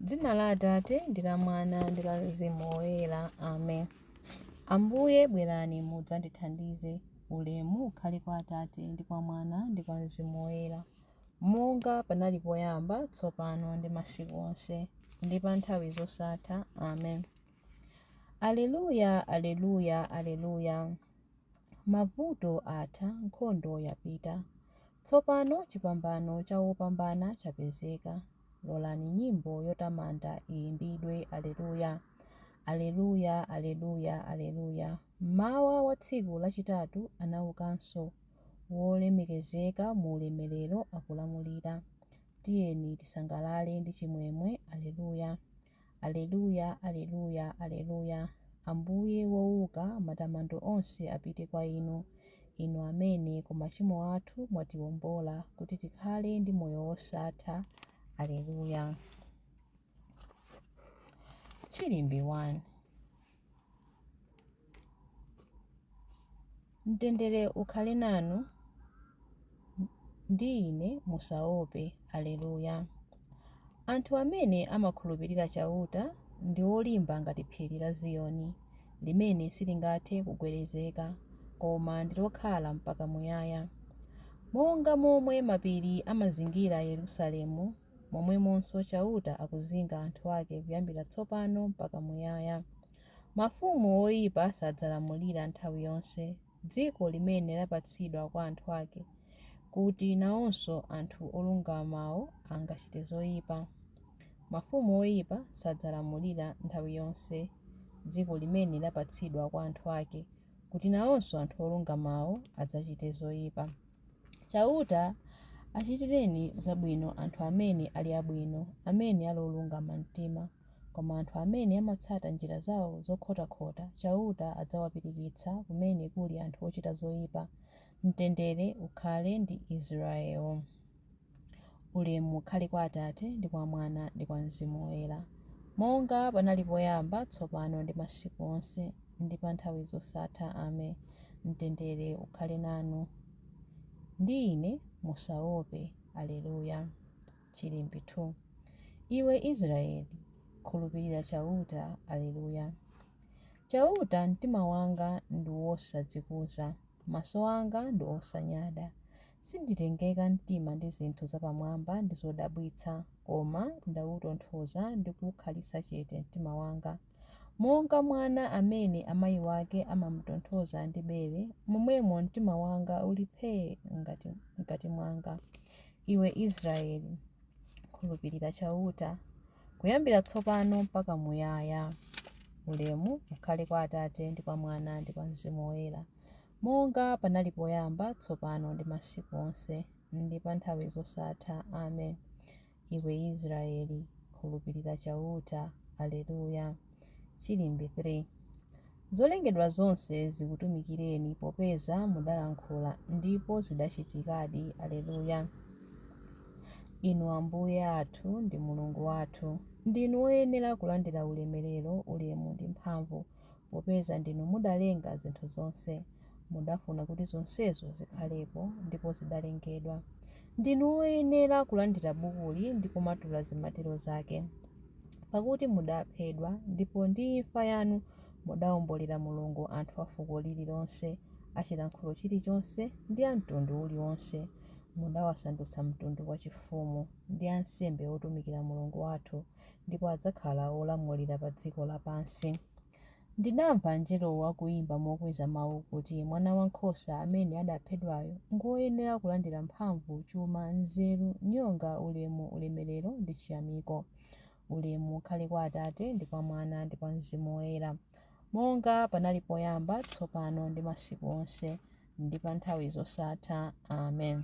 Dzina la Atate, ndi la Mwana, ndi la Mzimu Woyera. Amen. Ambuye, bwerani mudzandithandize. Ulemu ukhale kwa Atate, ndi kwa Mwana, ndi kwa Mzimu Woyera, monga panali poyamba, tsopano, ndi masiku onse, ndi pa nthawi zosatha. Amen. Aleluya, aleluya, aleluya. Mavuto atha, nkhondo yapita. Tsopano chipambano cha wopambana chapezeka. Lolani nyimbo yotamanda iyimbidwe, Aleluya! Aleluya! Aleluya! Aleluya! Mmawa wa tsiku lachitatu anaukanso, wolemekezeka mu ulemelero akulamulira. Tiyeni tisangalale ndi chimwemwe! Aleluya! Aleluya, Aleluya, Aleluya, Ambuye wouka, matamando onse apite kwa Inu, Inu amene ku machimo athu mwatiombola kuti tikhale ndi moyo wosatha. Aleluya. Chilimbi 1. Mtendere ukhale nanu ndi ine, musaope. Aleluya! Anthu amene amakhulupirira Chauta ndi olimba ngati phiri la Ziyoni, limene silingathe kugwedezeka, koma ndi lokhala mpaka muyaya. Monga momwe mapiri amazingira Yerusalemu, Momwemonso Chauta akuzinga anthu ake kuyambira tsopano mpaka muyaya. Mafumu oipa sadzalamulira nthawi yonse dziko limene lapatsidwa kwa anthu ake, kuti nawonso anthu olungamawo angachite zoipa. Mafumu oipa sadzalamulira nthawi yonse dziko limene lapatsidwa kwa anthu ake, kuti nawonso anthu olungamawo adzachite zoipa. Chauta achitireni zabwino anthu amene ali abwino, amene ali olungama mtima. Koma anthu amene amatsata njira zao zokhotakhota, Chauta adzawapirikitsa kumene kuli anthu ochita zoipa. Mtendere ukhale ndi Israele. Ulemu ukhale kwa Atate, ndi kwa Mwana, ndi kwa Mzimu Woyera, monga panali poyamba, tsopano, ndi masiku onse, ndi pa nthawi zosatha. Amen. Mtendere ukhale nanu. Ndi ine, musaope. Aleluya. Chilimbi 2. Iwe Israeli, khulupirira Chauta. Aleluya. Chauta, mtima wanga ndi wosadzikuza, maso anga ndi osanyada. Sinditengeka mtima ndi zinthu zapamwamba ndi zodabwitsa, koma ndautonthoza ndi kuukhalitsa chete mtima wanga. Monga mwana amene amayi wake amam'tonthoza ndi bere, momwemo mtima wanga uli phee mkati mwanga. Iwe Israyeli, khulupirira Chauta, kuyambira tsopano mpaka muyaya. Ulemu ukhale kwa Atate, ndi kwa Mwana, ndi kwa Mzimu Woyera. Monga panali poyamba, tsopano, ndi masiku onse, ndi pa nthawi zosatha. Amen. Iwe Israeli, khulupirira Chauta. Alleluia, Chilimbi 3 Zolengedwa zonse zikutumikireni, popeza mudalankhula, ndipo zidachitikadi. Alleluia, Inu Ambuye athu ndi Mulungu wathu, ndinu woyenera kulandira ulemerero, ulemu ndi mphamvu. popeza ndinu mudalenga zinthu zonse, mudafuna kuti zonsezo zikhalepo, ndipo zidalengedwa. Ndinu woyenera kulandira bukuli ndi kumatula zimatiro zake. Pakuti mudaphedwa, ndipo ndi imfa yanu mudaombolera Mulungu anthu a fuko lililonse, a chilankhulo chilichonse, ndi a mtundu uliwonse. Mudawasandutsa mtundu wachifumu, ndi ansembe otumikira Mulungu wathu. ndipo adzakhala olamulira pa dziko lapansi. Ndidamva mngelowo akuimba mokweza mau kuti, Mwanawankhosa amene adaphedwayo ngwoyenera kulandira mphamvu, chuma, nzeru, nyonga, ulemu, ulemerero ndi chiyamiko. Ulemu ukhale kwa Atate, ndi kwa Mwana, ndi kwa Mzimu Woyera, monga panali poyamba, tsopano ndi masiku onse, ndi pa nthawi zosatha. Amen.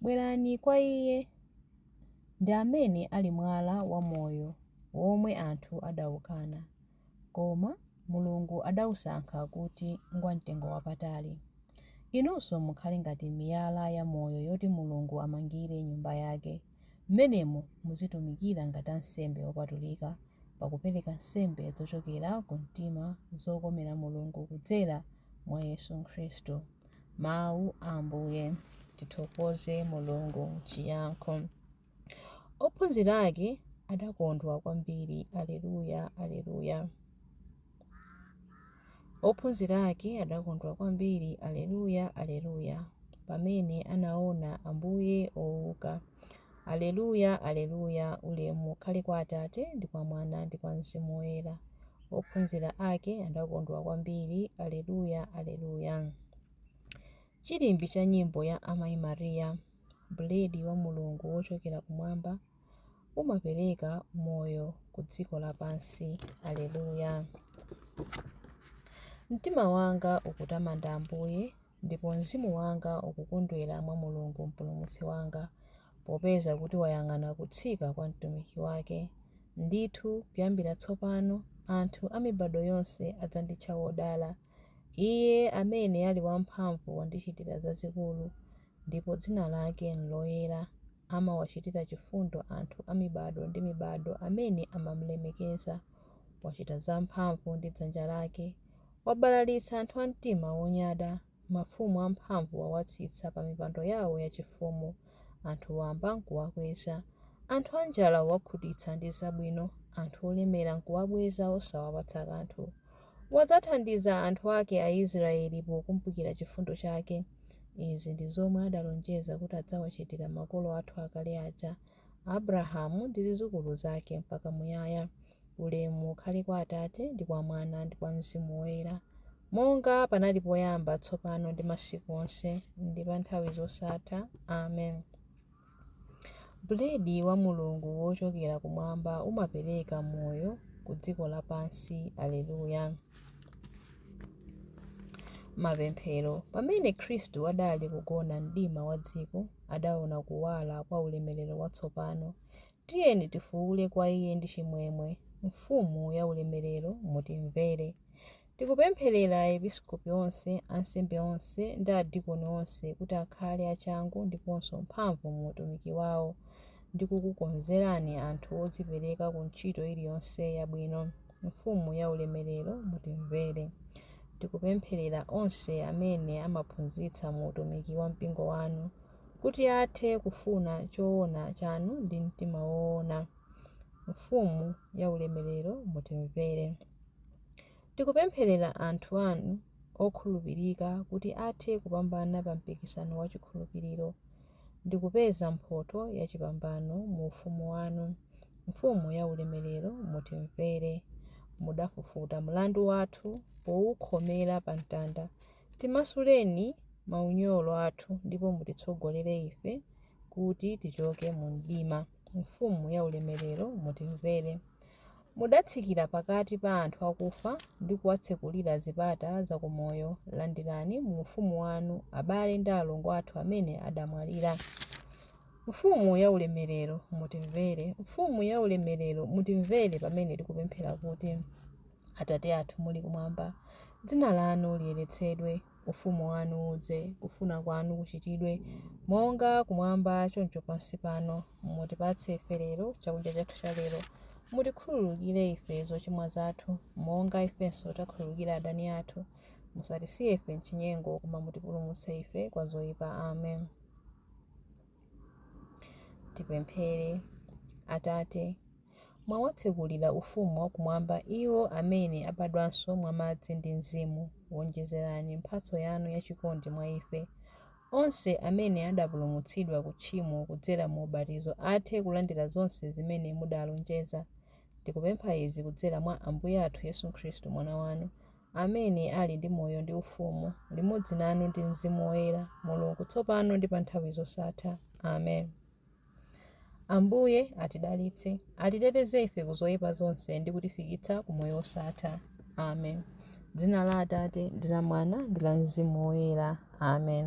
Bwerani kwa Iye, ndi amene ali mwala wa moyo, womwe anthu adaukana, koma Mulungu adausankha kuti ngwamtengo wapatali. Inunso mukhale ngati miyala ya moyo yoti Mulungu amangire Nyumba yake, m'menemo muzitumikira ngati ansembe opatulika, pakupereka nsembe zochokera ku mtima zokomera Mulungu kudzera mwa Yesu Khristu. Mawu a Ambuye. Tithokoze Mulungu Chiyankho Ophunzira ake adakondwa kwambiri. Alleluia, Alleluia. Ophunzira ake adakondwa kwambiri. Alleluia, Alleluia. Pamene anaona Ambuye ouka. Aleluya, Aleluya, Ulemu ukhale kwa Atate, ndi kwa Mwana, ndi kwa Mzimu Woyera. Ophunzira ake adakondwa kwambiri. Aleluya, Aleluya. Chilimbi cha nyimbo ya Amayi Maria, Buledi wa Mulungu wochokera kumwamba, umapereka moyo ku dziko lapansi. Aleluya. Mtima wanga ukutamanda Ambuye, Ndipo mzimu wanga ukukondwera mwa Mulungu Mpulumutsi wanga, popeza kuti wayang'ana kutsika kwa mtumiki wake. Ndithu, kuyambira tsopano, anthu a mibado yonse adzanditcha wodala. Iye amene ali wamphamvu wandichitira zazikulu, ndipo dzina lake n'loyera. Amawachitira chifundo anthu a mibado ndi mibado amene amamulemekeza. Wachita zamphamvu ndi dzanja lake. Wabalalitsa anthu a mtima wonyada, mafumu amphamvu wawatsitsa pamipando yawo yachifumu. Anthu wamba n'kuwakweza. Anthu anjala wakhutitsa ndi zabwino, anthu olemera n'kuwabweza osawapatsa kanthu. Wadzathandiza anthu ake Aisraeli pokumbukira chifundo chake. Izi ndi zomwe adalonjeza kuti adzawachitira makolo athu akale aja, Abrahamu ndi zidzukulu zake mpaka muyaya. Ulemu ukhale kwa Atate, ndi kwa Mwana, ndi kwa Mzimu Woyera, monga panali poyamba, tsopano, ndi masiku onse, ndi pa nthawi zosatha. Amen. Buledi wa Mulungu wochokera kumwamba umapereka moyo ku dziko lapansi. Aleluya. Mapemphero. Pamene Khristu adali kugona mdima wa dziko, adaona kuwala kwa ulemerero watsopano, Tiyeni tifuule kwa Iye ndi chimwemwe, Mfumu yaulemerero, mutimvere. Tikupempherera episkopi onse, ansembe onse, ndi adikoni onse kuti akhale achangu ndiponso mphamvu mu utumiki wawo ndi kukukonzerani anthu odzipereka ku ntchito iliyonse yabwino, Mfumu yaulemerero, mutimvere. Tikupempherera onse amene amaphunzitsa mu utumiki wa Mpingo wanu. kuti athe kufuna choona chanu ndi mtima woona. Mfumu yaulemerero, mutimvere. Tikupempherera anthu anu okhulupirika kuti athe kupambana pa mpikisano wa chikhulupiriro ndi kupeza mphotho ya chipambano mu ufumu wanu. Mfumu yaulemerero, mutimvere. Mudafufuta mlandu wathu poukhomera pa mtanda Timasuleni maunyolo athu ndipo mutitsogolere ife kuti tichoke mu mdima. Mfumu ya ulemerero, mutimvere. Mudatsikira pakati pa anthu akufa ndi kuwatsekulira zipata za ku moyo, landirani mu ufumu wanu abale ndi alongo athu amene adamwalira. Mfumu ya ulemerero, mutimvere. Mfumu ya ulemerero, mutimvere pamene tikupemphera kuti. Atate athu muli kumwamba, Dzina lanu liyeretsedwe, Ufumu wanu udze, kufuna kwanu kuchitidwe, monga kumwamba choncho pansi pano, mutipatse ife lero chakudya chathu cha lero, mutikhululukire ife zochimwa zathu, monga ifenso takhululukira adani athu, musatisiye ife m'chinyengo, koma mutipulumutse ife kwa zoipa. Amen. Tipemphere. Atate, Mwawatsekulira ufumu wa kumwamba iwo amene abadwanso mwa madzi ndi Mzimu, wonjezerani mphatso yanu ya chikondi mwa ife, onse amene adapulumutsidwa ku tchimo kudzera mu ubatizo athe kulandira zonse zimene mudalonjeza. Tikupempha izi kudzera mwa Ambuye athu Yesu Khristu Mwana wanu, amene ali ndi moyo ndi ufumu, limodzi nanu ndi Mzimu Woyera, Mulungu, tsopano ndi pa nthawi zosatha. Amen. Ambuye atidalitse, atiteteze ife ku zoyipa zonse ndi kutifikitsa ku moyo wosatha. Amen. Dzina la Atate, ndi la Mwana, ndi la Mzimu Woyera. Amen.